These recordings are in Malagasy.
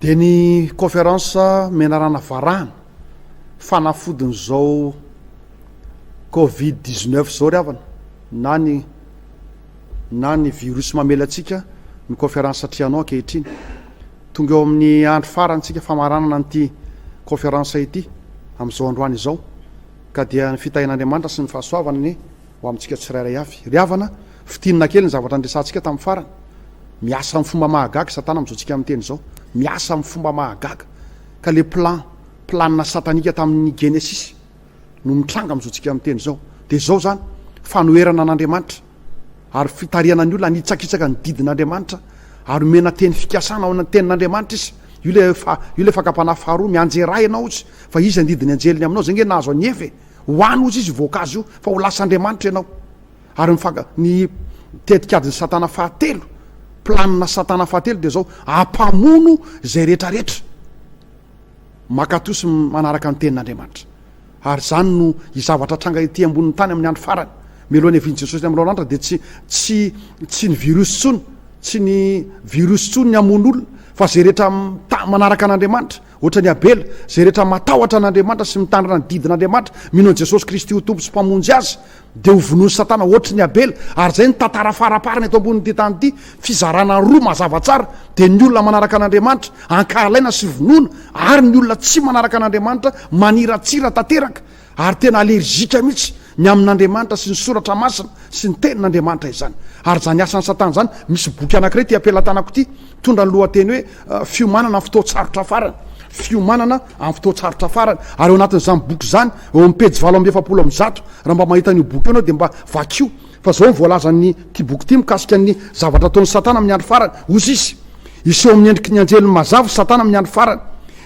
Dia ny Conférence menarana varahana fanafodin'izao covid dix neuf izao ry havana na ny na ny virus mamela antsika ny Conférence Trianon ankehitriny. Tonga eo amin'ny andro farany isika famaranana an'ity Conférence ity amin'izao androany izao ka dia ny fitahian'Andriamanitra sy ny fahasoavany Ho amintsika tsirairay avy. Ry havana, fintinina kely ny zavatra niresahantsika tamin'ny farany. Miasa amin'ny fomba mahagaga i Satana amin'izao tsika miteny izao. Miasa amin'ny fomba mahagaga. Ka ilay plan, planina satanika tamin'ny Genesisy no mitranga amin'izao tsika miteny izao. Dia izao izany, fanoherana an'Andriamanitra ary fitarihana ny olona hanitsakitsaka ny didin'Andriamanitra ary omena teny fikasana ao tenin'Andriamanitra izy. Io ilay, io ilay fakam-panahy faharoa, mianjera ahy ianao hozy, fa iza ny didin'ny anjeliny aminao? Izay ange nahazo an'i Eva e! Hoany ozy izy voankazo io fa ho lasa Andriamanitra ianao. Ary ny fanga, ny tetikadin'i satana fahatelo, planina satana fahatelo dia izao, hampamono izay rehetra rehetra makatoa sy manaraka ny tenin'Andriamanitra. Ary izany no izavatra tranga ety ambonin'ny tany amin'ny andro farany. Mialoha ny havian'i Jesosy amin'ny lalanitra dia tsy, tsy, tsy ny virus tsony, tsy ny virus tsony ny hamono olona, fa izay rehetra manaraka an'Andriamanitra, Hoatran'i Abela, izay rehetra matahotra an'Andriamanitra sy mitandrina ny didin'Andriamanitra, mino an'i Jesosy Kristy ho Tompo sy Mpamonjy azy, dia ho vonoin'i Satana hoatry ny Abela. Ary izay no tantara faraparany eto ambonin'ity tany ity. Fizarana roa mazava tsara, dia ny olona manaraka an'Andriamanitra, ankahalaina sy vonoina, ary ny olona tsy manaraka an'Andriamanitra, maniratsira tanteraka. Ary tena allergique mihitsy ny amin' Andriamanitra sy ny Soratra Masina sy ny Tenin' Andriamanitra izany. Ary izany asan' ny Satana izany, misy boky anankiray ity am-pelatanako ity, mitondra ny lohateny hoe Fiomanana amin'ny fotoan-tsarotra farany, Fiomanana amin'ny fotoan-tsarotra farany. Ary ao anatin' izany boky izany, eo amin'ny pejy valo amby efapolo amby zato, raha mba mahita an' io boky io ianao dia mba vakio, fa izao no voalazan' ity boky ity mikasika ny zavatra ataon' ny Satana amin' ny andro farany, Hozy izy, hiseho amin' ny endriky ny anjeliny mazava i Satana amin' ny andro farany,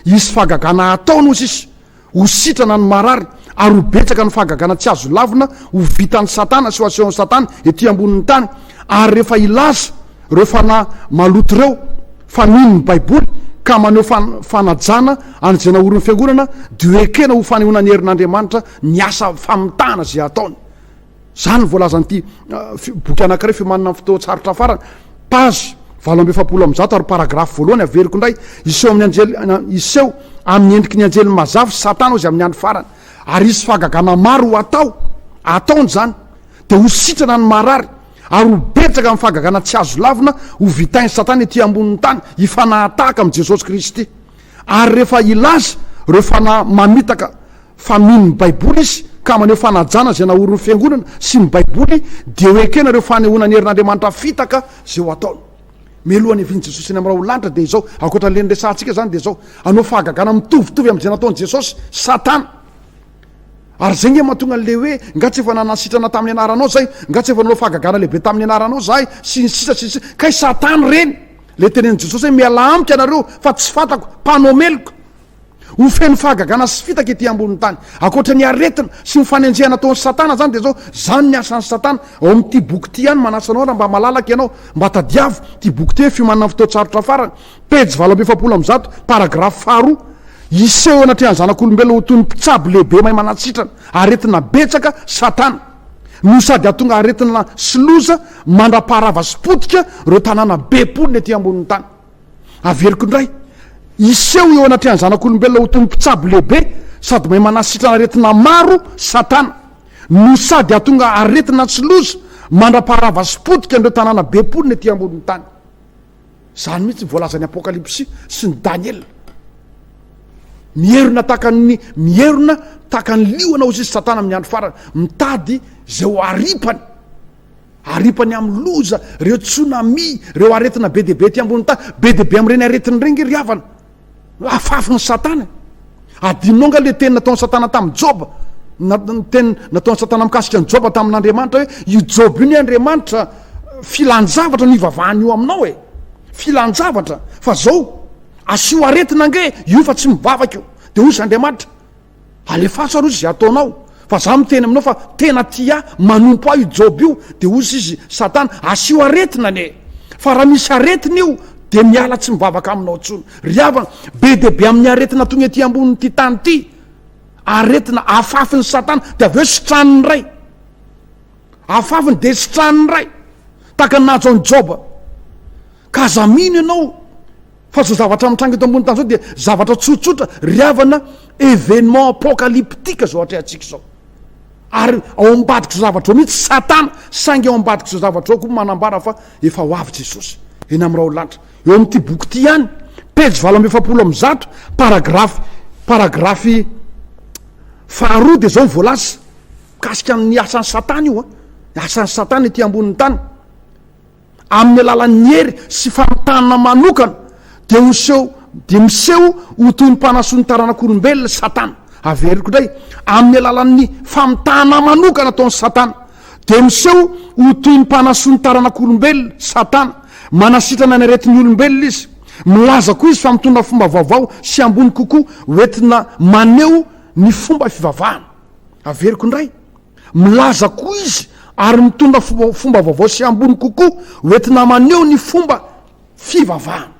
hisy fahagagana hataony, hozy izy, Ho sitrana ny marary ary ho betsaka ny fahagagana tsy azo lavina ho vitan'i Satana sy ho asehon'i Satana ety ambonin'ny tany. Ary rehefa hilaza ireo fanahy maloto ireo fa mino ny Baiboly ka maneho fanajana an'izay naorin'ny Fiangonana, dia ho ekena ho fanehoana ny herin'Andriamanitra miasa famitahana izay ataony. Izany no voalazan'ity boky anankiray fiomanana amin'ny fotoan-tsarotra farany, page valo amby efapolo amby zato ary paragrafy voalohany averiko indray, hiseho amin'ny anjely, hiseho amin'ny endriky ny anjely mazava i Satana hozy amin'ny andro farany, ary hisy fahagagana maro ho atao, ataony izany, dia ho sitrana ny marary, ary ho betsaka ny fahagagana tsy azo lavina ho vitain'i Satana ety ambonin'ny tany, hifanahatahaka amin'i Jesosy Kristy. Ary rehefa hilaza ireo fanahy mamitaka fa mino ny Baiboly izy ka maneho fanajana izay naorin'ny Fiangonana sy ny Baiboly, dia ho ekena ireo fanehoana ny herin'Andriamanitra fitaka izay ho ataony. Mialoha hanevin'i Jesosy any amin'ny ra olon-danitra dia izao, ankoatra an'ilay niresahantsika izany dia izao, hanao fahagagana mitovitovy amin'izay nataon'i Jesosy Satana. Ary izay nge mahatonga an'ilay hoe, nga tsy efa nanana sitrana tamin'ny anaranao izay, nga tsy efa nanao fahagagana lehibe tamin'ny anaranao izahay, sy ny sisa sy ny sisa. Kay Satana ireny! Le tenen'i Jesosy hoe mialà amiko ianareo fa tsy fantako, mpanao meloka. Ho feno fahagagana sy fitaka ity ambonin'ny tany. Ankoatra ny aretina sy ny fanenjehana ataon'i Satana izany dia izao, izany ny asan'i Satana ao amin'ity boky ity ihany, manasa anao raha mba malalaka ianao, mba tadiavo ity boky ity hoe Fiomanana Fotoan-tsarotra Farany, pejy valo amby efapolo amby zato, paragrafy faharoa, Hiseho eo anatrehan'ny zanak'olombelona ho toy ny mpitsabo lehibe mahay manasitrana, aretina betsaka, Satana. no sady hahatonga aretina sy loza mandra-paharava sy potika ireo tanàna be mponina ety ambonin'ny tany. Averiko indray, hiseho eo anatrehan'ny zanak'olombelona ho toy ny mpitsabo lehibe sady mahay manasitrana aretina maro Satana, no sady hahatonga aretina sy loza mandra-paharava sy potika an'ireo tanàna be mponina ety ambonin'ny tany. Izany mihitsy ny voalazan'ny Apokalypsy sy ny Daniela. Mierona tahaka ny mierona tahaka ny liona hozy izy Satana amin'ny andro farany, mitady izay ho aripany. Aripany amin'ny loza, ireo tsunami, ireo aretina be dia be aty ambony tany, be dia be amin'ireny aretina ireny ry havana. Afafin'i Satana. Adinonao nga le teny nataon'i Satana tamin'i Joba? Na teny nataon'i Satana mikasika an'i Joba tamin'Andriamanitra hoe io Joba io ny Andriamanitra filan-javatra no ivavahany io aminao e. Filan-javatra fa zao asio aretina ange io fa tsy mivavaka io. De hoy izy Andriamanitra Alefaso aloha izay ataonao fa za miteny aminao fa tena tia ahy manompo ahy io Job io de ozy izy satana asio aretina anie fa raha misy aretina io de miala tsy mivavaka aminao tsony ry havana be de be amin'ny aretina tony ety ambony ity tany ity aretina afafiny satana de avy eo sitraniny ray afafiny de sitraniny ray taka nahazo an'i Job ka aza mino ianao Fa izao zavatra mitranga eto ambony tany izao dia zavatra tsotsotra ry havana, événement apocalyptique izao atrehantsika izao. Ary ao ambadik'izao zavatra ao mihitsy Satana, saingy ao ambadik'izao zavatra ao koa manambara fa efa ho avy Jesosy eny amin'ny raolanitra. Eo amin'ity boky ity ihany, pejy valo amby efapolo amby zato, paragrafy paragrafy faharoa dia izao no voalaza mikasika ny asan'i Satana io, asan'i Satana ety ambonin'ny tany. amin'ny alalan'ny hery sy famitahana manokana, dia ho seho, dia miseho ho toy ny mpanasoa ny taranak'olombelona i Satana. Averiko indray, amin'ny alalan'ny famitahana manokana ataon'i Satana, dia miseho ho toy ny mpanasoa ny taranak'olombelona, Satana. Manasitrana ny aretin'ny olombelona izy. Milaza koa izy fa mitondra fomba vaovao sy ambony kokoa hoentina maneho ny fomba fivavahana. Averiko indray. Milaza koa izy ary mitondra fomba vaovao sy ambony kokoa hoentina maneho ny fomba fivavahana.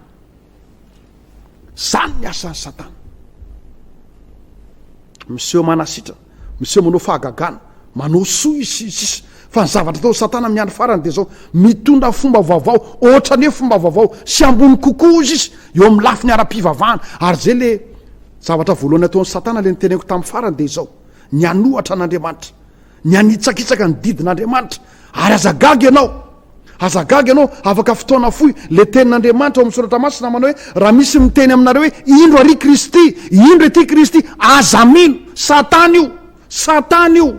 Izany ny asan'i Satana. Miseho manasitrana, miseho manao fahagagana, manao soa izy, sy ny sisa Fa ny zavatra ataon'i Satana amin'ny andro farany dia izao, mitondra fomba vaovao, ohatrany hoe fomba vaovao sy ambony kokoa, hozy izy, eo amin'ny lafiny ara-pivavahana. Ary izay ilay zavatra voalohany ataon'i Satana, ilay noteneniko tamin'ny farany, dia izao. ny hanohatra an'Andriamanitra, ny hanitsakitsaka ny didin'Andriamanitra. Ary aza gaga ianao, aza gaga ianao, afaka fotoana fohy, ilay tenin'Andriamanitra ao amin'ny Soratra Masina manao hoe, raha misy miteny aminareo hoe, indro ary i Kristy, indro ety i Kristy, aza mino, Satana io, Satana io,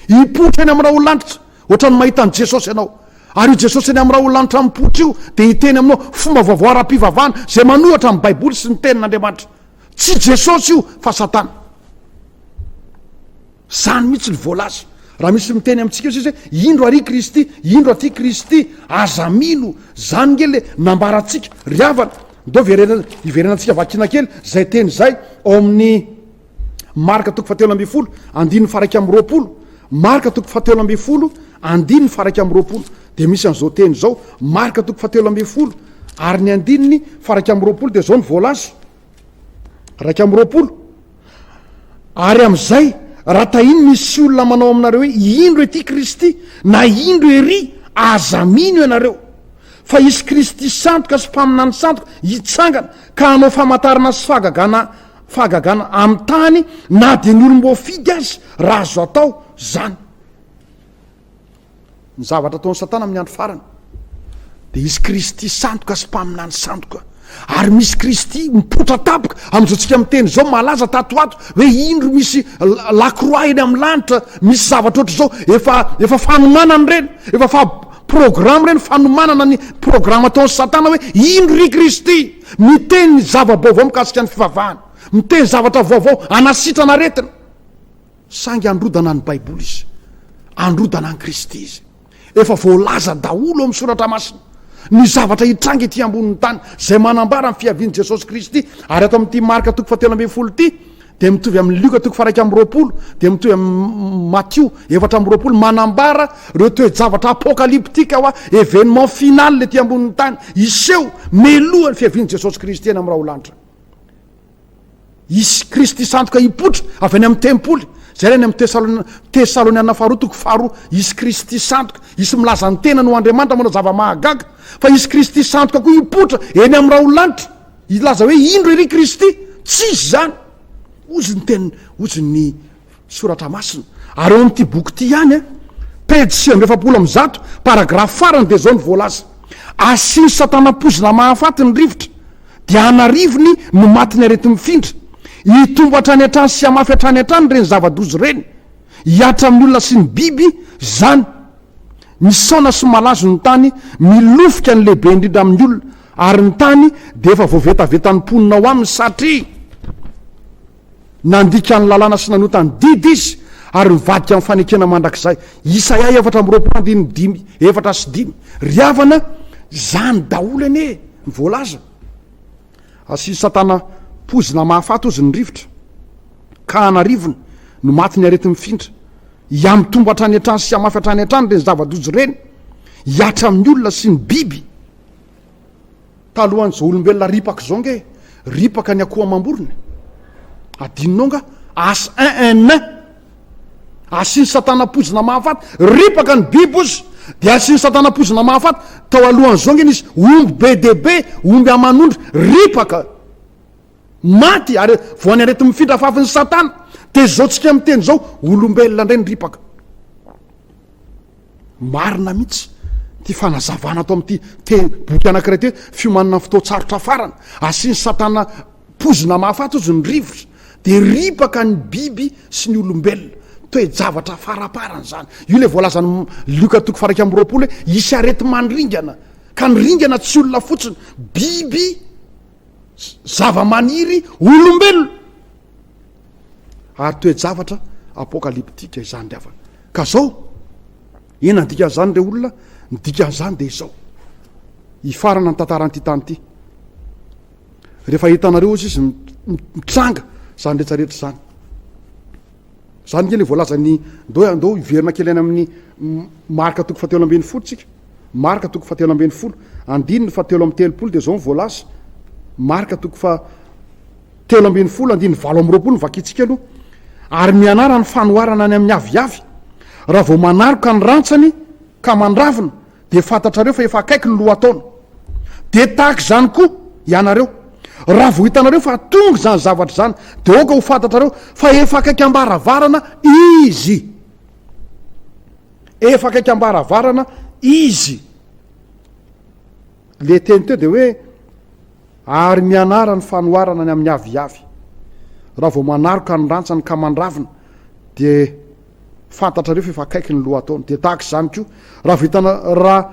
hipoitra eny amin'ny raholagnitra, ohatran'ny mahita an'i Jesosy ianao. Ary io Jesosy eny amin'ny raholagnitra mipoitra io dia hiteny aminao fomba vaovao ara-pivavahana izay manohatra ny Baiboly sy ny tenin'Andriamanitra. Tsy Jesosy io fa Satana. Zany mihitsy ny voalaza. Raha misy miteny amintsika io sisa hoe indro ary Kristy, indro aty Kristy, aza mino. Zany nge le nambarantsika. Ry havana, ndao hiverenantsika vakina kely zay teny zay ao amin'ny Marka toko fahatelo ambin'ny folo andininy faha iraika amby roapolo. Marka toko fahatelo ambin'ny folo andininy faha iraika amby roapolo. Dia misy an'izao teny izao, Marka toko fahatelo ambin'ny folo ary ny andininy faraika amin'ny roapolo dia izao ny voalaza, raika amin'ny roapolo, ary amin'izay raha tahiny misy olona manao aminareo hoe indro ety Kristy na indro ery aza mino ianareo fa hisy Kristy sandoka sy mpaminany sandoka hitsangana ka hanao famatarana sy fahagagana fahagagana amin'ny tany na dia ny olom-boafidy aza raha azo atao izany. Ny zavatra ataon'i Satana amin'ny andro farany dia hisy Kristy sandoka sy mpaminany sandoka, ary misy Kristy mipoitra tampoka. Amin'izao tsika miteny izao, malaza tato ho ato hoe indro misy lakroa eny amin'ny lanitra, misy zavatra ohatr'izao, efa efa fanomanana ireny, efa fa programa ireny, fanomanana ny programa ataon'i Satana hoe indro ry Kristy miteny zava-baovao mikasika ny fivavahana, miteny zavatra vaovao hanasitrana aretina. Saingy androdana ny Baiboly izy. Androdana an'i Kristy izy. Efa voalaza daholo ao amin'ny Soratra Masina ny zavatra hitranga ety ambonin'ny tany, izay manambara ny fiavian'i Jesosy Kristy. Ary ato amin'ity Marka toko fahatelo ambin'ny folo ity, dia mitovy amin'i Lioka toko faharaika amby roapolo, dia mitovy amin'i Matio efatra amby roapolo, manambara ireo toe-javatra apokalyptika hoa événement final ety ambonin'ny tany, hiseho melohan'ny fiavian'i Jesosy Kristy eny amin'ny raholanitra. Hisy Kristy sandoka hipoitra avy any amin'ny tempoly. Jerena any amin'ny Tesaloniana Faharoa toko faharoa. Hisy Kristy sandoka, hisy milaza ny tenany ho Andriamanitra manao zava-mahagaga. Fa hisy Kristy sandoka koa hipoitra eny amin'ny raholaanitra, hilaza hoe, Indro ery Kristy! Tsy izy izany! Hozy ny tenin'ny, hozy ny Soratra masina. Ary ao amin'ity boky ity ihany, pejy sivy amby efapolo amby zato, paragrafy farany dia izao no voalaza, Asian'i Satana poizina mahafaty ny rivotra, dia an'arivony no matin'ny areti-mifindra. Hitombo hatrany hatrany sy hamafy hatrany hatrany ireny zava-doza ireny. Hihatra amin'ny olona sy ny biby izany. Misaona sy malazo ny tany, milofika ny lehibe indrindra amin'ny olona, ary ny tany dia efa voavetavetan'ny mponina ao aminy, satria. Nandika ny lalàna sy nanota ny didy izy, ary nivadika amin'ny fanekena mandrakizay. Isaia efatra amby roapolo andininy dimy, efatra sy dimy. Ry havana, izany daholo anie no voalaza. Asian'i Satana poizina mahafaty ozy ny rivotra, ka an'arivony no matin'ny areti-mifindra. Hihamitombo hatrany hatrany sy hamafy hatrany hatrany ireny zava-doza ireny, hihatra amin'ny olona sy ny biby. Talohan'izao olombelona ripaka izao ange ripaka ny akoho amam-borona e! Adinonao nga? As einn! Asian'i satana poizina mahafaty, ripaka ny biby ozy dia asian'i satana poizina mahafaty, tao alohan'izao ange nisy omby be dia be, omby aman'ondry, ripaka, maty are, voan'ny areti-mifindra afafin'i satana, dia izao tsika miteny izao olombelona indray ny ripaka. Marina mihitsy ity fanazavana ato amin'ity teny boky anankiray ity hoe fiomanana ny fotoan-tsarotra farany. Asian'i Satana poizina mahafaty hozy ny rivotra, dia ripaka ny biby sy ny olombelona. Toe-javatra faraparany izany. Io ilay voalazan'i Lioka toko faha-iraika amby roapolo hoe hisy areti-mandringana, ka ny ringana tsy olona fotsiny, biby, zavamaniry, olombelona. Ary toe-javatra apokalyptika izany ry havana. Ka zao, inona ny dikan'izany re olona? Ny dikan'izany dia izao, hifarana ny tantaran'ity tany ity. Rehefa hitanareo ozy izy mitranga izany rehetra rehetra izany. Izany nge le voalazan'ny ndao andao hiverina kely any amin'ny marka toko fatelo ambin'ny folo tsika. Marka toko fatelo ambin'ny folo. Andininy fatelo amin'ny telopolo dia izao ny voalaza. Marka toko fa Telo ambin'ny folo andininy valo amby roapolo no vakintsika aloha, ary mianara ny fanoharana any amin'ny aviavy. Raha vao manaroka ny rantsany ka mandravona dia fantatrareo fa efa akaiky ny lohataona. Dia tahaka izany koa ianareo, raha vao hitanareo fa tonga izany zavatra izany dia aoka ho fantatrareo fa efa akaiky am-baravarana izy. Efa akaiky am-baravarana izy. Le teny teo dia hoe, Ary mianara ny fanoharana ny amin'ny aviavy. Raha vao manaroka ny rantsany ka mandravina, dia fantatrareo fa efa akaiky ny lohataona. Dia tahaka izany koa, raha vao hitana, raha,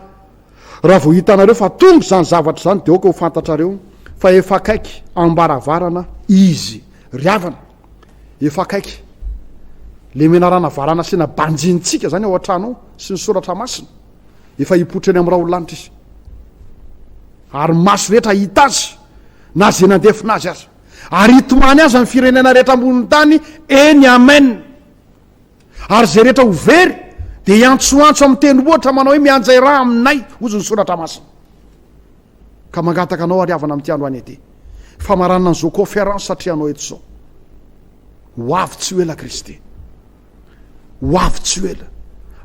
raha vao hitanareo fa tonga izany zavatra izany, dia aoka ho fantatrareo fa efa akaiky am-baravarana Izy. Ry havana, efa akaiky le menarana varan'asina banjinintsika izany ao an-trano ao, sy ny Soratra Masina. Efa hipoitra eny amin'ny raholaanitra izy, ary maso rehetra hahita azy, na izay nandefona azy aza. Ary hitomany azy amin'ny firenena rehetra ambonin'ny tany, eny, amen. Ary izay rehetra ho very, dia hiantsoantso amin'ny teny ohatra manao hoe mianjay ra aminay, hozy ny soratra masina. Ka mangataka anao ary havana amin'ity androany ity, famaranana an'izao conférence atrehanao eto izao. Ho avy tsy ho ela Kristy. Ho avy tsy ho ela.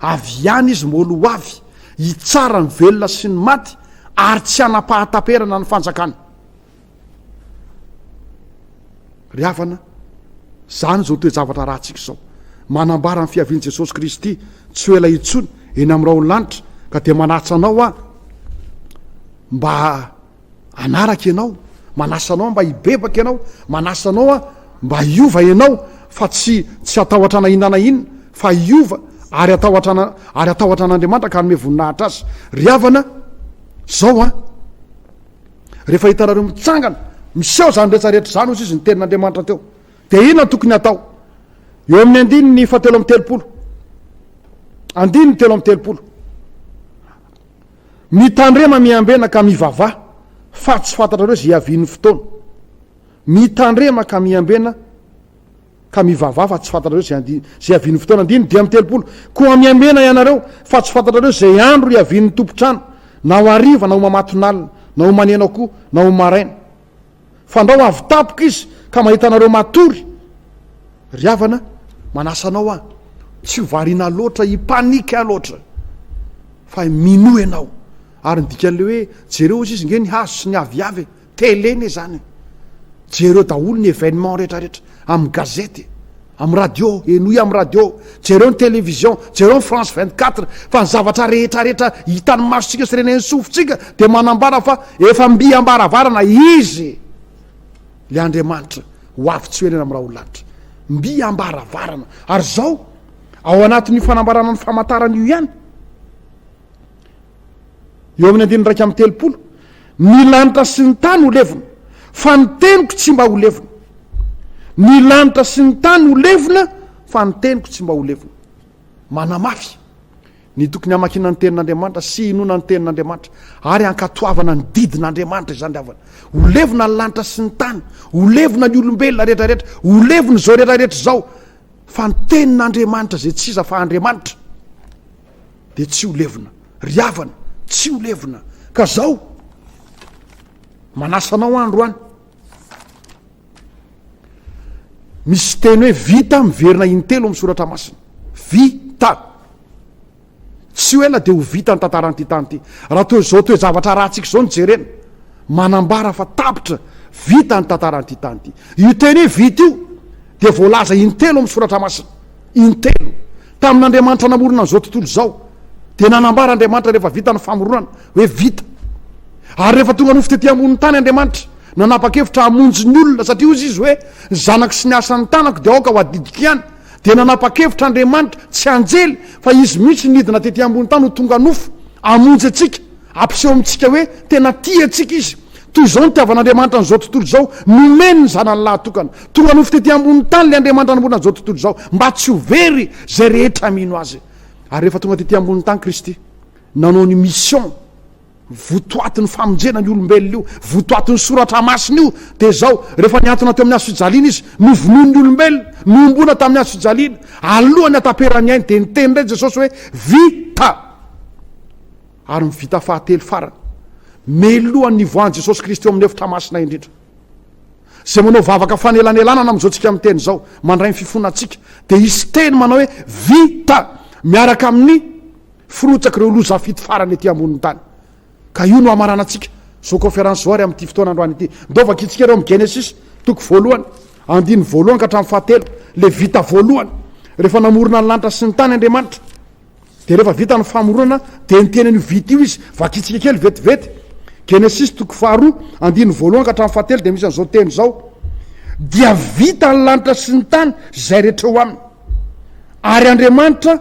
Avy ihany Izy moalo ho avy, hitsara ny velona sy ny maty, ary tsy hanam-pahataperana ny fanjakany. Ry havana, izany izao toe-javatra arahantsika izao. Manambara ny fiavian'i Jesosy Kristy tsy ho ela intsony eny amin'ny rahon'ny lanitra, ka dia manatsa anao aho mba hanaraka ianao, manasa anao mba hibebaka ianao, manasa anao mba hiova ianao fa tsy tsy hatahotra na inona na inona fa hiova ary hatahotra ana ary hatahotra an'Andriamanitra ka hanome voninahitra azy. Ry havana, zao an! Rehefa hitanareo mitsangana, miseho izany rehetra rehetra izany hozy izy ny tenin'Andriamanitra teo. Dia inona tokony hatao? Eo amin'ny andininy fahatelo amby telopolo. Andininy telo amby telopolo. Mitandrema miambena ka mivavaha fa tsy fantatrareo izay hiavian'ny fotoana. Mitandrema ka miambena ka mivavaha fa tsy fantatrareo izay handi- izay hiavian'ny fotoana. Andininy dimy amby telopolo. Koa miambena ianareo fa tsy fantatrareo izay andro hiavian'ny tompon-trano, na ho hariva na ho mamatonalina, na ho maneno akoho, na ho maraina. Fandrao avy tampoka izy ka mahita anareo matory. Ry havana, manasa anao aho, tsy ho variana loatra hi-panique loatra fa minoa ianao. Ary ny dikan'ilay hoe jereo hozy izy nge ny hazo sy ny aviavy e! Télé ne zany e! Jereo daholo ny événement rehetrarehetra amin'ny gazety e! Amin'ny radio, henoy amin'ny radio, jereo ny télévision, jereo ny France vingt quatre, fa ny zavatra rehetra rehetra hitan'ny masontsika sy renen'ny sofintsika dia manambara fa efa mby am-baravarana izy le Andriamanitra ho avy tsy ho ela eny amin'ny raholalanitra. Mby am-baravarana. Ary izao, ao anatin'io fanambarana ny famantarana io ihany, Eo amin'ny andininy iraika amby telopolo, Ny lanitra sy ny tany ho levona, fa ny teniko tsy mba ho levona. Ny lanitra sy ny tany ho levona, fa ny teniko tsy mba ho levona. Manamafy ny tokony hamakiana ny Tenin'Andriamanitra sy hinoana ny Tenin'Andriamanitra ary hankatoavana ny didin'Andriamanitra izany ry havana. Ho levona ny lanitra sy ny tany, ho levona ny olombelona rehetra rehetra, ho levona izao rehetra rehetra izao, fa ny Tenin'Andriamanitra izay tsy iza fa Andriamanitra. Dia tsy ho levona. Ry havana, tsy ho levona. Ka zao, manasa anao andro any. Misy teny hoe vita miverina intelo amin'ny soratra masina. Vita. Tsy ho ela dia ho vita ny tantaran'ity tany ity. Raha toy izao toe-javatra ratsika izao no jerena, manambara fa tapitra, vita ny tantaran'ity tany ity. Io teny hoe vita io dia voalaza intelo amin'ny soratra masina. Intelo. Tamin'Andriamanitra namorona an'izao tontolo izao, dia nanambara Andriamanitra rehefa vita ny famoronana hoe vita. Ary rehefa tonga nofo tety ambonin'ny tany Andriamanitra, nanapa-kevitra hamonjy ny olona, satria hoy izy hoe, Ny zanako sy ny asan'ny tanako dia aoka ho adidiko ihany. Dia nanapa-kevitra Andriamanitra, tsy anjely, fa izy mihitsy nidina tety ambonin'ny tany ho tonga nofo, hamonjy antsika. Ampiseho amintsika hoe tena tia antsika izy. Toy izao ny hitiavan'Andriamanitra an'izao tontolo izao, Nomeny ny Zanany lahatokana tonga nofo tetỳ ambonin'ny tany ilay Andriamanitra nanorina izao tontolo izao, mba tsy ho very izay rehetra mino azy. Ary rehefa tonga tetỳ ambonin'ny tany Kristy, nanao ny mission votoatin'ny famonjena ny olombelona io, votoatin'ny Soratra Masina io, dia izao, rehefa nihantona teo amin'ny hazo fijaliana izy, novonoin'ny olombelona, nohomboana tamin'ny hazo fijaliana, alohan'ny hataperan'ny ainy, dia niteny indray Jesosy hoe, Vita! Ary ny vita fahatelo farany, melohan'ny nivoahan'i Jesosy Kristy eo amin'ny efitra masina indrindra. Izay manao vavaka fanelanelanana amin'izao tsika miteny izao, mandray ny fifonantsika, dia hisy teny manao hoe vita miaraka amin'ny firotsak'ireo loza fito farany ety ambonin'ny tany. Ka io no hamaranantsika izao kaonferansy izao ary amin'ity fotoana androany ity. Ndao vakintsika ireo amin'ny Genesisy, toko voalohany, andininy voalohany ka hatramin'ny fahatelo, ilay vita voalohany, rehefa namorona ny lanitra sy ny tany Andriamanitra. Dia rehefa vita ny famoronana dia niteny an'io vita io izy, vakitsika kely vetivety, Genesisy toko faharoa, andininy voalohany ka hatramin'ny fahatelo dia misy an'izao teny izao, Dia vita ny lanitra sy ny tany sy izay rehetra eo aminy, ary Andriamanitra,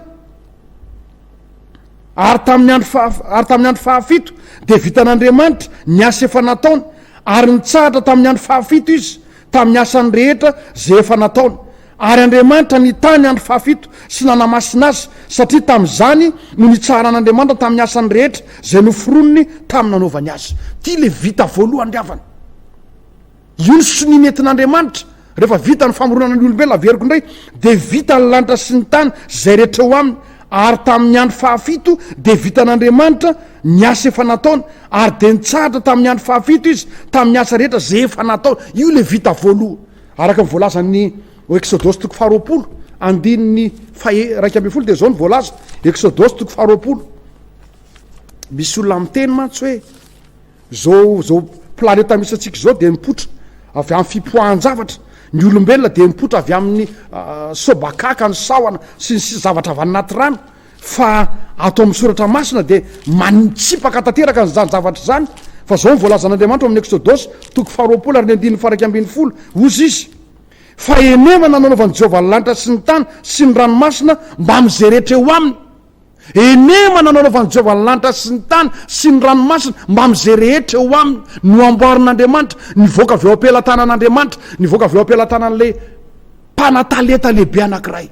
ary tamin'ny andro faha, ary tamin'ny andro fahafito dia vitan'Andriamanitra ny asa efa nataony, ary nitsahatra tamin'ny andro fahafito izy tamin'ny asany rehetra izay efa nataony. Ary Andriamanitra nitahy ny andro fahafito sy nanamasina azy, satria tamin'izany no nitsaharan'Andriamanitra tamin'ny asany rehetra izay noforoniny tamin'ny nanaovany azy. Ity ilay vita voalohany ry havana. Io ny sonia nentin'Andriamanitra, rehefa vita ny famoronana ny olombelona averiko indray, dia vita ny lanitra sy ny tany sy izay rehetra eo aminy, ary tamin'ny andro fahafito dia vitan'Andriamanitra ny asa efa nataony, ary dia nitsahatra tamin'ny andro fahafito izy tamin'ny asa rehetra izay efa nataony. Io ilay vita voalohany. Araka ny voalazan'ny ao Eksodosy toko faharoapolo, andininy faha iraika ambin'ny folo dia izao no voalaza, Eksodosy toko faharoapolo. Misy olona miteny mantsy hoe zao zao planeta misy antsika izao dia mipoitra avy amin'ny fipoahan-javatra. Ny olombelona dia mipoitra avy amin'ny ah, sobakaka, ny sahona sy ny sisa zavatra avy anaty rano. Fa ato amin'ny Soratra Masina dia manitsipaka tanteraka an'izany zavatra izany, fa izao no voalazan'Andriamanitra ao amin'ny Eksodosy, toko faharoapolo ary ny andininy faha iraika ambin'ny folo, Hozy izy, Fa henena nanaovan'i Jehovah ny lanitra sy ny tany sy ny ranomasina mbamin'izay rehetra eo aminy. Henema nanaovan'i Jehovah ny lanitra sy ny tany sy ny ranomasina mbamin'izay rehetra eo aminy. Noamboarin'Andriamanitra, nivoaka avy ao am-pelatanan'Andriamanitra, nivoaka avy ao am-pelatanan'ilay mpanatalenta lehibe anankiray.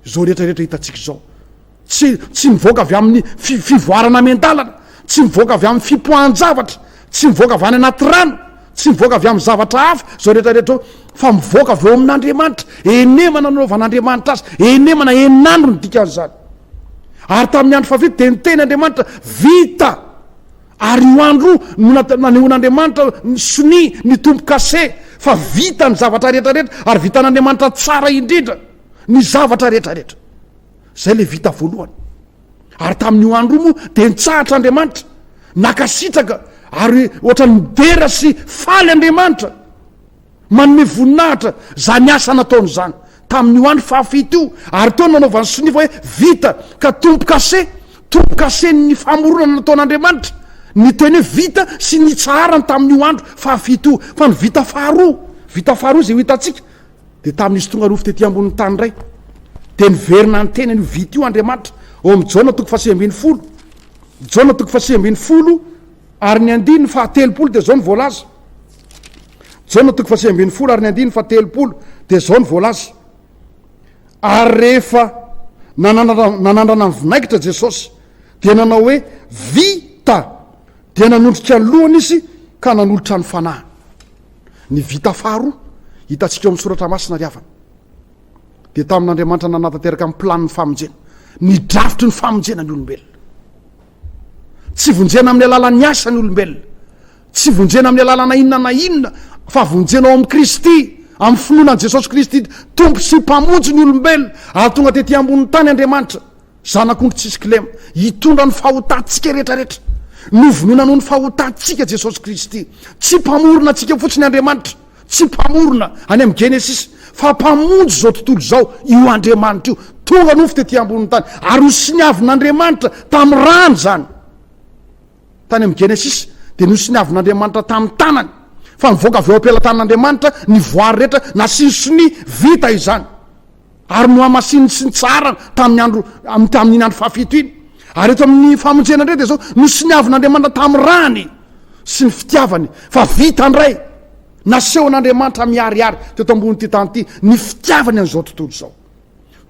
Izao rehetra rehetra hitantsika izao, tsy tsy mivoaka avy amin'ny fi fivoarana amin-dalana, tsy mivoaka avy amin'ny fipoahan-javatra, tsy mivoaka avy any anaty rano, tsy mivoaka avy amin'ny zavatra hafa izao rehetra rehetra eo, fa mivoaka avy eo amin'Andriamanitra. Enemana nanaovan'Andriamanitra azy, enemana, enin'andro ny dikan'izany. Ary tamin'ny andro fahavita dia niteny Andriamanitra, vita! Ary io andro io no nanehoan'Andriamanitra ny sonia, ny tombo-kase, fa vita ny zavatra rehetrarehetra, ary vitan'Andriamanitra tsara indrindra ny zavatra rehetrarehetra. Izay ilay vita voalohany. Ary tamin'io andro io moa dia nitsahatra Andriamanitra, nankasitraka, ary ohatran'ny midera sy faly Andriamanitra. Manome voninahitra izany asa nataony izany tamin'io andro fahafito io, ary teo no nanaovany sonia fa hoe, Vita! Ka tombo-kase, tombo-kasen'ny famoronana nataon'Andriamanitra, ny teny hoe vita sy ny itsaharany tamin'io andro fahafito io. Fa ny vita faharoa, vita faharoa izay ho hitantsika, dia tamin'izy tonga nofo tety ambonin'ny tany indray. Dia niverina niteny an'io vita io Andriamanitra ao amin'ny Jaona toko fahasivy ambin'ny folo, Jaona toko fahasivy ambin'ny folo, Ary ny andininy fahatelopolo dia izao no voalaza. Jaona toko fahasivy ambin'ny folo ary ny andininy fahatelopolo dia izao no voalaza. Ary rehefa nanandrana ny vinaigitra Jesosy dia nanao hoe vita dia nanondrika ny lohany izy ka nanolotra ny fanahy. Ny vita faharoa hitantsika ao amin'ny soratra masina ry havana dia tamin'Andriamanitra nanatanteraka ny planin'ny famonjena, ny drafitry ny famonjena ny olombelona. Tsy vonjena amin'ny alalan'ny asa ny olombelona. Tsy vonjena amin'ny alalana inona na inona fa vonjena ao amin'i Kristy, amin'ny finoana an'i Jesosy Kristy Tompo sy Mpamonjy ny olombelona ary tonga tety ambonin'ny tany Andriamanitra, Zanak'ondry tsisy kilema, hitondra ny fahotantsika rehetrarehetra. Novonoina noho ny fahotantsika Jesosy Kristy. Tsy Mpamorona antsika fotsiny Andriamanitra. Tsy Mpamorona any amin'ny Genesisy, fa Mpamonjy izao tontolo izao io Andriamanitra io. Tonga nofo tetỳ ambonin'ny tany, ary nosiniavin'Andriamanitra tamin'ny rany izany. Tany amin'ny Genesisy, dia nosiniavin'Andriamanitra tamin'ny tanany, fa nivoaka avy ao am-pelatanan'Andriamanitra ny voary rehetra, nasiany sonia, vita izany. ary nohamasininy sy nitsaharany tamin'ny andro am tamin'iny andro fahafito iny ary eto amin'ny famonjena indray dia zao nosoniavin'andriamanitra tamin'ny rany sy ny fitiavany fa vita ndray nasehon'andriamanitra miharihary teto ambonin'ity tany ity ny fitiavany an'izao tontolo izao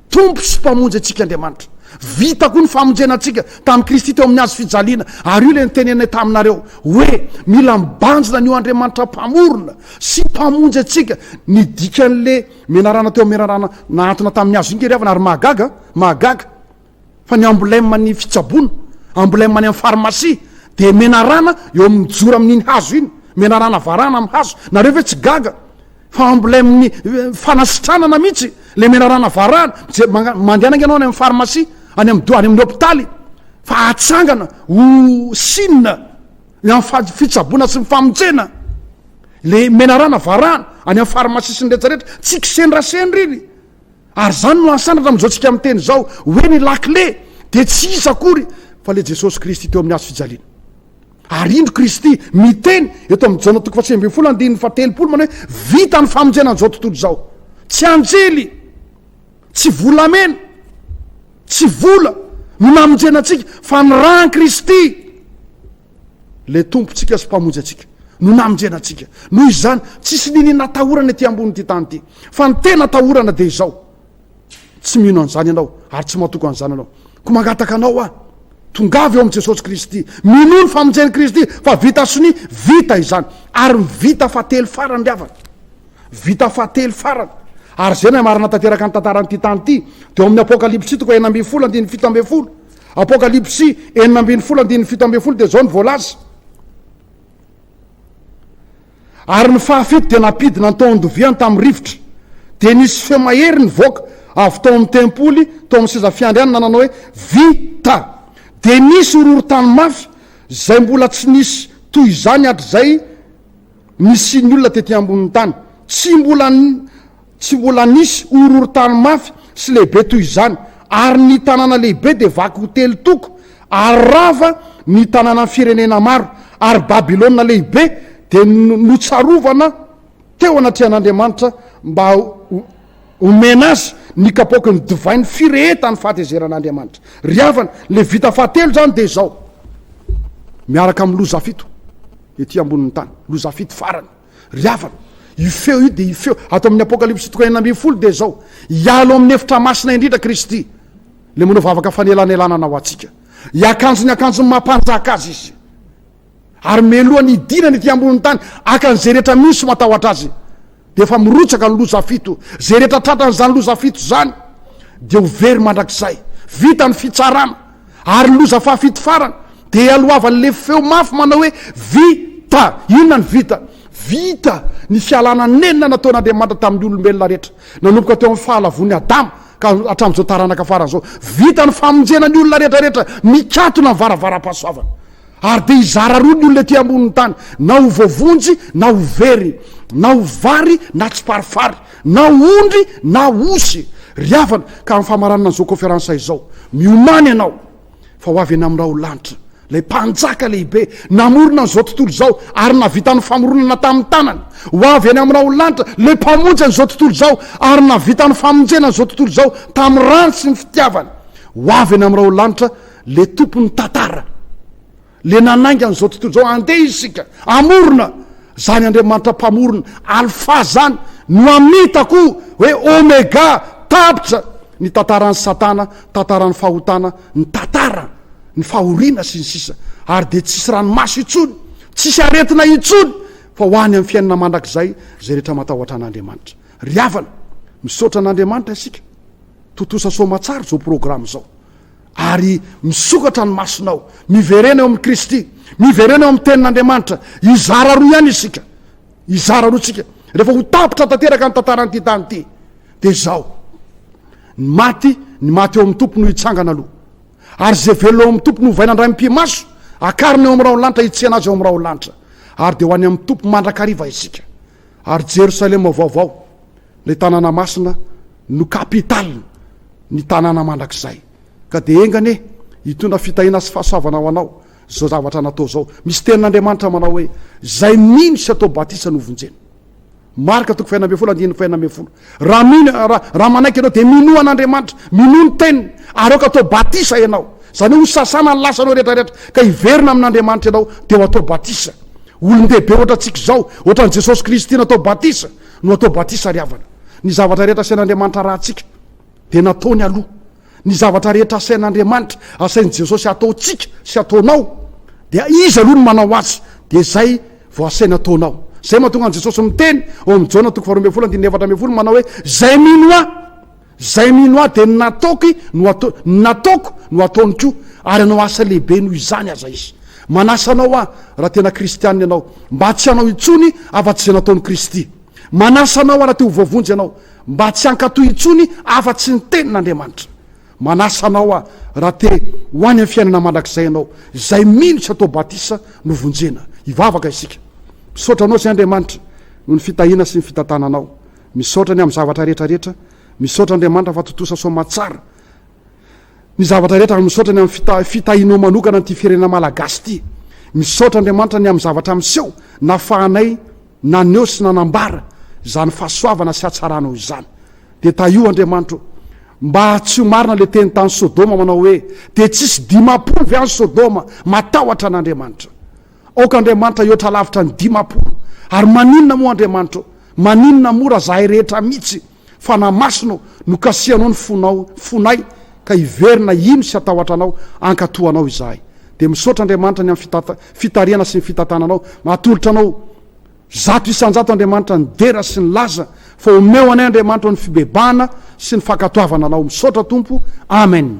tompo sy mpamonjy antsika andriamanitra vita koa ny famonjena antsika tamin'i kristy teo amin'ny azo fijaliana ary io le nitenenay taminareo hoe mila mibanjina ny eo andriamanitra mpamorona sy mpamonjy antsika ny dikan'le Menarana teo menarana nahantona tamin'ny hazo inty ry havana ary mahagaga mahagaga fa ny emblème ny fitsaboana emblème any amin'ny pharmacie dia menarana eo amin'ny mijoro amin'iny hazo iny menarana varana amin'ny hazo nareo ve tsy gaga fa emblème ny eh, fanasitranana mihitsy le menarana varana je mandehananga ianao any amin'ny pharmacie any amin'ny any amin'ny hôpitaly fa atsangana ho sina Ny amin'ny fady fitsaboana sy ny famonjena, le menarana varahana any amin'ny farmasia sy ny rehetra rehetra, tsy kisendrasendra iny. Ary izany no asandratra amin'izao tsika miteny izao hoe ny lakile dia tsy iza akory fa le Jesosy Kristy teo amin'ny hazo fijaliana. Ary indro Kristy miteny eto amin'ny Jaona toko fahasivy ambin'ny folo andininy fahatelopolo manao hoe vita ny famonjena an'izao tontolo izao. Tsy anjely. Tsy volamena, tsy vola no namonjena antsika fa ny ràn'i Kristy, ilay Tompontsika sy Mpamonjy antsika no namonjena antsika. Noho izany, tsisy niniana atahorana ety ambonin'ity tany ity. Fa ny tena atahorana dia izao, tsy mino an'izany ianao ary tsy matoky an'izany ianao. Koa mangataka anao aho, tongava eo amin'i Jesosy Kristy, minoa ny famonjen'i Kristy fa vita sonia, vita izany, ary ny vita fa telo farany ry havana. Vita fahatelo farany. Ary izay no hamarinana tanteraka ny tantaran'ity tany ity, dia ao amin'ny Apokalypsy toko enina ambin'ny folo andininy fito ambin'ny folo. Apokalypsy enina ambin'ny folo andininy fito ambin'ny folo dia izao ny voalaza. Ary ny fahafito dia nampidina ny tao andoviany tamin'ny rivotra. Dia nisy feo mahery nivoaka avy tao amin'ny tempoly, tao amin'ny seza fiandrianana nanao hoe, Vita! Dia nisy horohorontany mafy, izay mbola tsy nisy toy izany hatrizay, Nisian'ny olona tety ambonin'ny tany tsy mbola tsy mbola nisy horohorontany mafy sy lehibe toy izany, ary ny tanàna lehibe dia vaky ho telo toko, ary rava ny tanànan'ny firenena maro, ary Babylona Lehibe dia notsarovana teo anatrehan'Andriamanitra mba homena azy ny kapoaky ny divain'ny firehetan'ny fahatezeran'Andriamanitra. Ry havana, Levita fahatelo izany dia izao, miaraka amin'ny loza fito. Ety ambonin'ny tany. Loza fito farany. Ry havana, io feo io dia io feo ato amin'ny Apokalypsy toko enina ambin'ny folo dia izao, Hialo amin'ny efitra masina indrindra Kristy, Ilay manao vavaka fanelanelanana ho antsika. Hiakanjo ny akanjon'ny maha mpanjaka azy izy. Ary mialoha ny hidinany ety ambonin'ny tany, haka an'izay rehetra mino sy matahotra azy. Dia efa mirotsaka ny loza fito. Izay rehetra tratran'izany loza fito izany dia ho very mandrakizay. Vita ny fitsarana. Ary ny loza fahafito farany dia ialohavan'ny lefy feo mafy manao hoe, Vita! Inona ny vita? Vita ny fialana nenina nataon'Andriamanitra tamin'ny olombelona rehetra, nanomboka teo amin'ny fahalavoan'i Adama ka hatramin'izao taranaka farany izao. Vita ny famonjena ny olona rehetra rehetra mikatona ny varavaram-pahasoavana. Ary dia hizara roa ny olona ety ambonin'ny tany, na ho voavonjy na ho very, na ho vary na tsiparifary, na ho ondry na osy. Ry havana, ka amin'ny famaranana an'izao kaoferansa izao, miomàna ianao, fa ho avy eny amin'ny raholanitra ilay Mpanjaka lehibe namorona an'izao tontolo izao ary nahavita ny famoronana tamin'ny tanany. Ho avy eny amin'ny raholanitra ilay Mpamonjy an'izao tontolo izao ary nahavita ny famonjena an'izao tontolo izao tamin'ny ràny sy ny fitiavany. Ho avy eny amin'ny raholanitra. Le tompon'ny tantara. Le nanainga an'izao tontolo izao. Andeha isika hamorona zany Andriamanitra mpamorona. Alpha zany no amitako hoe Omega. Tapitra ny tantaran'i satana, tantaran'ny fahotana, ny tantara, ny fahoriana sy ny sisa. Ary dia tsisy ranomaso intsony, tsisy aretina intsony fa ho any amin'ny fiainana mandrakizay izay rehetra matahotra an'Andriamanitra. Ry havana, misaotra an'Andriamanitra isika. Tontosa soamatsara izao programme izao. Ary misokatra ny masonao. Miverena eo amin'i Kristy. Miverena eo amin'ny Tenin'Andriamanitra. Hizara roa ihany isika. Hizara roa isika. Rehefa ho tapitra tanteraka ny tantaran'ity tany ity, dia izao. Ny maty, ny maty eo amin'ny Tompo no hitsangana aloha. Ary izay velona eo amin'ny Tompo no hovaina indray amim-pimaso, akarina eo amin'ny rahon'ny lanitra, hitsihana azy eo amin'ny rahon'ny lanitra. Ary dia ho any amin'ny Tompo mandrakariva isika. Ary Jerosalema vaovao, Ilay tanàna masina no capital ny tanàna mandrakizay ka dia enga anie hitondra fitahiana sy fahasoavana ho anao izao zavatra natao izao. Misy tenin'Andriamanitra manao hoe, izay mino sy atao batisa no vonjena. Marka toko fahena ambin'ny folo andininy fahena ambin'ny folo. Raha mino, raha, raha manaiky ianao dia minoa an'Andriamanitra, minoa ny teniny ary aoka atao batisa ianao. Izany hoe hosasana ny lasanao rehetra rehetra ka hiverina amin'Andriamanitra ianao dia ho atao batisa. Olon-dehibe ohatra antsika izao, ohatran'i Jesosy Kristy natao batisa. no atao batisa ry havana. Ny zavatra rehetra asain'Andriamanitra arahantsika dia nataony aloha. Ny zavatra rehetra asain'Andriamanitra, asain'i Jesosy hataontsika sy hataonao dia Izy aloha no manao azy dia izay vao asainy hataonao. Izay mahatonga an'i Jesosy miteny ao amin'ny Jaona toko faharoa ambin'ny folo andininy efatra ambin'ny folo manao hoe, Izay mino Ahy. Izay mino Ahy, dia ny nataoko no hatao, ny nataoko no hataony koa, ary hanao asa lehibe noho izany aza izy. Manasa anao Aho, raha tena Kristianina ianao, mba tsy hanao intsony afa-tsy izay nataon'i Kristy. Manasa anao Aho, raha te ho voavonjy ianao, mba tsy hankatò intsony afa-tsy ny Tenin'Andriamanitra. Manasa anao Aho, raha te ho any amin'ny fiainana mandrakizay ianao, izay mino sy atao batisa no vonjena. Hivavaka isika. Misaotra Anao, Ry Andriamanitra, noho ny fitahiana sy ny fitantananao. Misaotra ny am zavatra rehetra rehetra misaotra Andriamanitra fa tontosa soamatsara ny zavatra rehetra ary misaotra ny am fita fitahinao manokana an'ity firenena malagasy ity misaotra Andriamanitra ny am zavatra miseho nafahanay naneho sy nanambara izany fahasoavana sy hatsaranao izany de tahio Andriamanitra o mba tsy ho marina le teny tany sodoma manao hoe de tsisy dimapolo ve any sodoma matahotra an'Andriamanitra Aoka Andriamanitra hihoatra lavitra ny dimampolo. Ary maninona moa Andriamanitra ô? Maninona moa raha zahay rehetra mitsy fanahy masina ô no kasihanao ny fonao, fonay ka hiverina hino sy hatahotra anao hankatoa anao izahay. Dia misaotra Andriamanitra ny amin'ny fitarihana sy ny fitantananao. Atolotra anao zato isanjato Andriamanitra ny dera sy ny laza fa omeo anay Andriamanitra ny fibebahana sy ny fankatoavana anao. Misaotra Tompo. Amen.